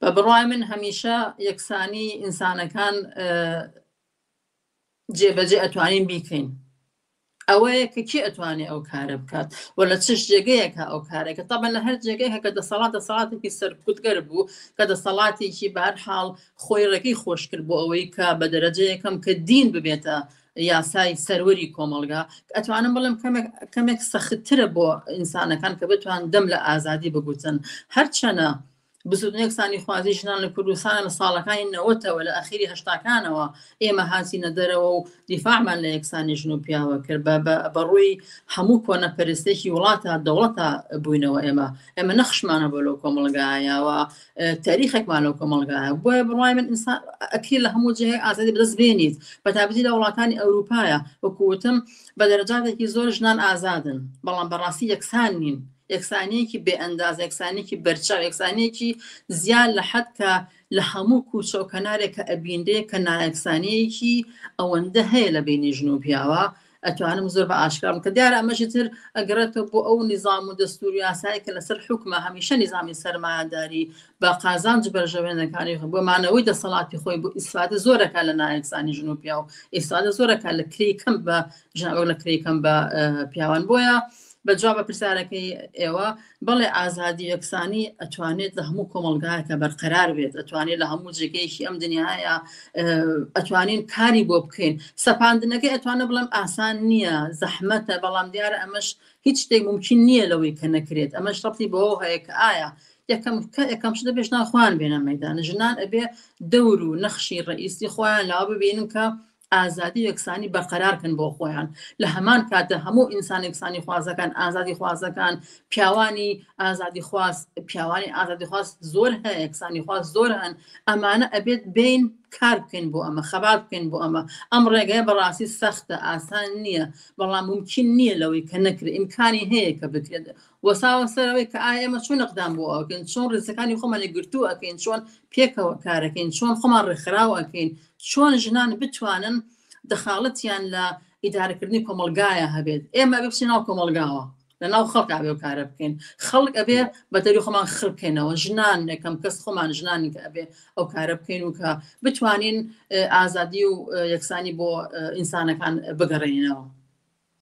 بە بڕوای من هەمیشە یەکسانی ئینسانەکان جێبەجێ ئەتوانین بیکەین ئەوەیە کە کی ئەتوانێت ئەو کارە بکات و لە چش جێگەیەکە ئەو کارێکە تەبە لە هەر جێگەیە کە دەسەڵات دەسەڵاتێکی سەرکوتگەر بوو کە دەسەڵاتێکی بار حاڵ خۆی ڕێگەی خۆشکرد بۆ ئەوەی کە بە دەرەجەیەکەم کە دین ببێتە یاسای سەروەری کۆمەلگا ئەتوانم بڵم کەمێک سەختترە بۆ ئینسانەکان کە بتوان دەم لە ئازادی بگوتن هەرچەنە بزوتنە یەکسانیخوازی ژنان لە کوردستان لە ساڵەکانی نەوەتەوە لە ئەخیری هەشتاکانەوە ئێمە هاتینە دەرەوە و دیفاعمان لە یەکسانی ژن و پیاوە کرد بە بەڕووی هەموو کۆنە پەرستێکی وڵاتە دەوڵەتە بووینەوە ئێمە ئێمە نەخشمانە بۆ لەو کۆمەڵگایەوە تاریخێکمان لەو کۆمەڵگایە بۆیە بڕای من ئینسان ئەکری لە هەموو جێ ئازادی بەدەست بێنیت بە تابزی لە وڵاتانی ئەوروپایە وەکوتم بە دەرەجاتێکی زۆر ژنان ئازادن بەڵام بەڕاستی یەکسان نین یەکسانیەکی بێ ئەنداز، یەکسانیەکی بەرچاو، یەکسانیەکی زیاد لە حەد کە لە هەموو کوچە و کەنارێک کە ئەبینرێ کە نایەکسانیەکی ئەوەندە هەیە لە بینی ژن و پیاوە، ئەتوانم زۆر بە ئاشکرا بڵێم کە دیارە ئەمەشی تر ئەگەڕێتەوە بۆ ئەو نیزام و دەستور و یاسایە کە لەسەر حوکمە، هەمیشە نیزامی سەرمایەداری بە قازانج بەرژەوەندەکانی بۆ مانەوەی دەسەڵاتی خۆی بۆ ئیسفادە زۆر ئەکا لە نایەکسانی ژن و پیاو، ئیسفادە زۆر ئەکا لە کرێی کەم بە ژن و لە کرێی کەم بە پیاوان بۆیە بە جواب بە پرسیارەکەی ئێوە بەڵێ ئازادی یەکسانی ئەتوانێت لە هەموو کۆمەلگایەکە بەرقەرار بێت ئەتوانێت لە هەموو جێگەیەکی ئەم دنیاە ئەتوانین کاری بۆ بکەین سەپاندنەکەی ئەتوانە بڵم ئاسان نییە زەحمەتە بەڵام دیارە ئەمەش هیچ شتێک ممکن نییە لەوەی کە نەکرێت ئەمە شڕی بۆ هەیە کە ئایا یەکەم کە یەکەم شدە پێشناخوان بێنە مەدان ژنان ئەبێ دەور و نەخشی ڕئیسی خۆیان لاوە ببینن کە ئازادی و یەکسانی بەرقەرار کەن بۆ خۆیان لە هەمان کاتە هەموو ئینسان یەکسانی خوازەکان ئازادی خوازەکان پیاوانی ئازادی خواست پیاوانی ئازادی خواست زۆر هەیە یەکسانی خواست زۆر هەن ئەمانە ئەبێت بین کار بکەین بۆ ئەمە خەبات بکەین بۆ ئەمە ئەم ڕێگەیە بەڕاستی سەختە ئاسان نییە بەڵام ممکن نییە لەوەی کە نەکرێت ئیمکانی هەیە کە بکرێت وەساوە سەرەوەی کە ئایا ئێمە چۆن نەقدام بۆ ئەوکەین چۆن ڕێزەکانی خۆمانی گرتوو ئەەکەین چۆن پێکەوە کارەکەین چۆن خۆمان ڕێکخراوەکەین چۆن ژنان بتوانن دەخاڵەتیان لە ئیدارەکردنی کۆمەلگایە هەبێت ئێمە ئەبێ بچین ناو کۆمەلگاوە لە ناو خەڵک ئەبێ و کارە بکەین خەڵک ئەبێ بە دەری خۆمان خڕکەینەوە ژنان نەکەم کەس خۆمان ژنانی کە ئەبێ ئەو کارە بکەین و کە بتوانین ئازادی و یەکسانی بۆ ئینسانەکان بگەڕێنینەوە.